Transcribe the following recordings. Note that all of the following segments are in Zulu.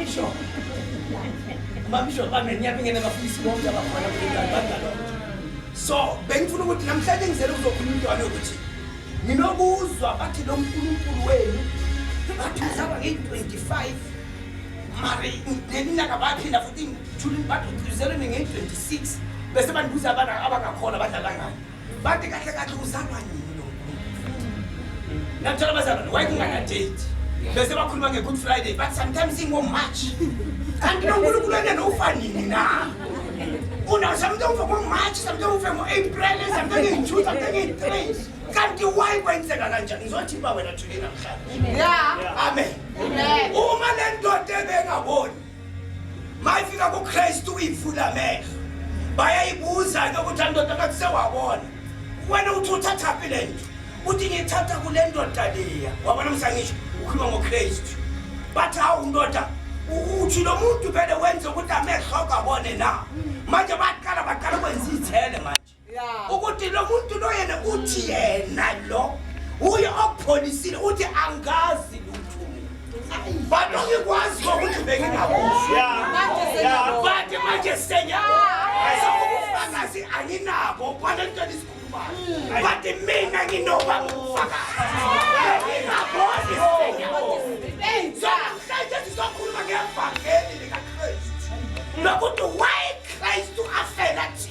Isho. Mamsho bami ngiyabe ngene bafundisi bonke abafana kulengane bangalona. So bengifuna ukuthi namhlanje ngizele kuzokhuluma intwana ukuthi nginokuzwa bathi lo nkulunkulu wenu bathi uzaba ngeyi-25 mari neminyaka baphinda futhi thulini bathi uzelwe ngeyi-26 bese bandibuza abana abangakholwa badlala ngani Bathi kahle kahle uzama yini lo nkulunkulu. Namtshela abazalwane why kungana date. Bese bakhuluma nge Good Friday but sometimes ingo March. Kanti lo nkulunkulu enene ufanini na? Una something ufa ngo March, something ufa ngo April, something in June, something in May. Kanti why kwenzeka kanjani? Ngizothi ba wena thulina mhlawumbe. Yeah. Amen. Amen. Uma le ndoda ebengaboni mayifika kuKristu uyivula amehlo bayayibuza ke ukuthi andoda ngathi sewabona wena uthi uthathaphi le nto uthi ngiyithatha kule ndoda leya wabona msangisho ukhuluma ngokristu bathi hawu ndoda uthi lo muntu vele wenze ukuthi amehlo akabone na manje baqala baqala kwenza iy'thele manje ukuthi lo muntu lo yena uthi yena lo uye okupholisile uthi angazi lutho but ongikwazi ngokuthi bengingakuzibathi manje senyabufakazi anginabo kwale nto lisikhulumayo but mina nginoba ngufakaziingaboni senyaoamhlanje sizokhuluma ngevangeli likakristu lokuthi why kristu afela thina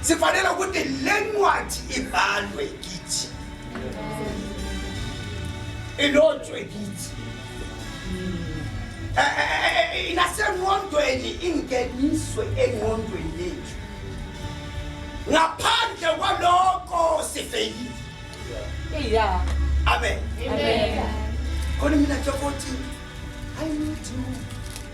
sifanele ukuthi le ncwadi ibhalwe kithi ilotshwe kithi eh, eh, eh, inasenqondweni ingeniswe enqondweni yethu ngaphandle kwaloko sifeyile iya amen khona mina nje kothi i need you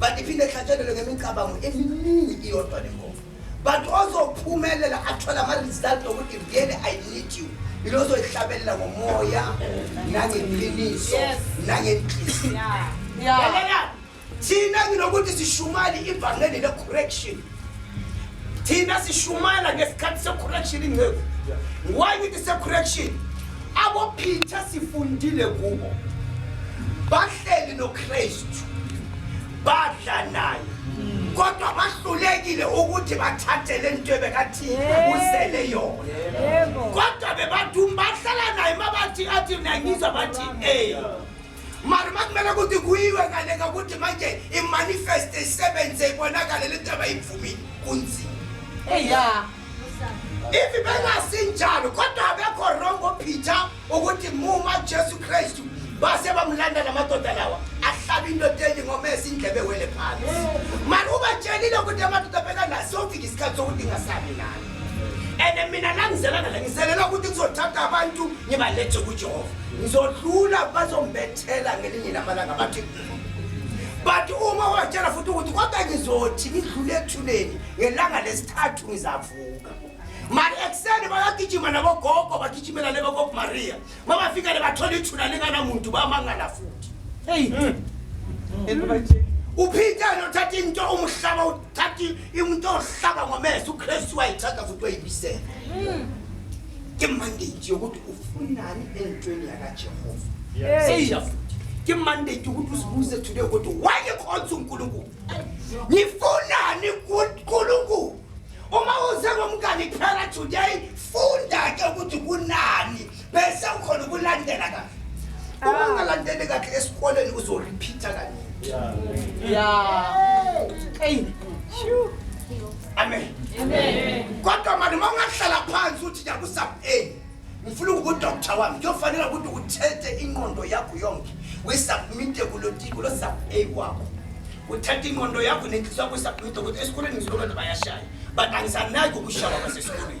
but iphinde ihlatshelelwe ngemicabango eminingi iyodwa le ngoma but ozophumelela athole ama-result okuthi really i need you yilo ozoyihlabelela ngomoya nangeqiniso nangenhliziyo thina nginokuthi sishumali ivangeli le-correction thina sishumayela ngesikhathi se-correction inceku why ngithi se-correction abophitha sifundile kubo bahleli nokristu badla naye kodwa bahlulekile ukuthi bathathe le nto ebekathi usele yona kodwa bebathi bahlala naye mabathi athi nangizwa bathi ey mara makumele ukuthi kuyiwe ngale ngokuthi manje imanifest isebenze ibonakale le nto abayivumile kunzima eya if bengasinjalo kodwa abekho wrong ophitha ukuthi muma jesu kristu base bamlanda la madoda lawa ahlaba into teli ngomesa indlebe wele phansi mara ubatshelile ukuthi amadoda bekanaso ofika isikhathi sokuthi ingasabi nalo and mina langizelana la ngizelela ukuthi kuzothatha abantu ngibalethe kujehova ngizodlula bazombethela ngelinye lamalanga bathi but uma watshela futhi ukuthi kodwa ngizothi ngidlule ethuneni ngelanga lesithathu ngizavuka mali ekuseni bayagijima nabogogo bagijimela lebogogo maria mabafika le bathola ithuna linganamuntu bamangala futhi hmm. uphitha nothatha into umhlaba thathi umuntu ohlaba ngomese ukristu wayithatha futhi wayibisela ke mandate yokuthi ufunani entweni yakajehova seyiya futhi ke mandate yokuthi uzibuze today ukuthi why ekhonsa unkulunkulu ngifunani kunkulunkulu uma uze ngomngane kuphela today funda ke ukuthi kunani bese ukhona ukulandela kahle uma ungalandeli kahle esikoleni uzorepeata kaningi ya eyi amen kodwa mani uma ungahlala phansi uthi nyakusab a ngifuna ukudoktar wami kuyofanela ukuthi uthethe inqondo yakho yonke uyisubmite kulo sub a wakho uthatha ingqondo yakho nenhliso yakho isabhida ukuthi esikoleni ngizilokwenza bayashaya but angisanaki ukushawa kwasesikoleni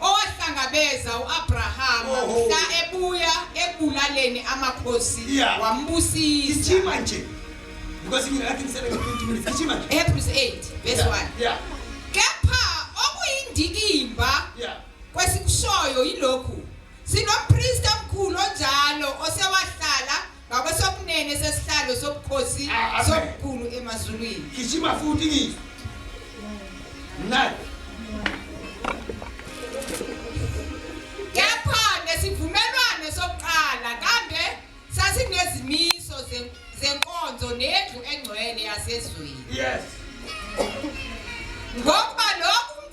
owahlangabeza uAbrahama Oh. mhla ebuya ekulaleni amakhosi Yeah. wambusisa Gijima nje. Because mina ngathi ngisebenza 20 minutes. Gijima nje. Hebrews 8 verse 1 Yeah. kepha okuyindikimba Yeah. kwesikushoyo yilokhu sinompristi omkhulu onjalo osewahlala ngakwesokunene sesihlalo sobukhosi ah, ah, sobukhulu emazulwini gijima futhi ngizwe mnandi kepha nesivumelwano sokuqala kambe sasinezimiso zenkonzo nendlu engcwele yasezweni yes ngokuba lokho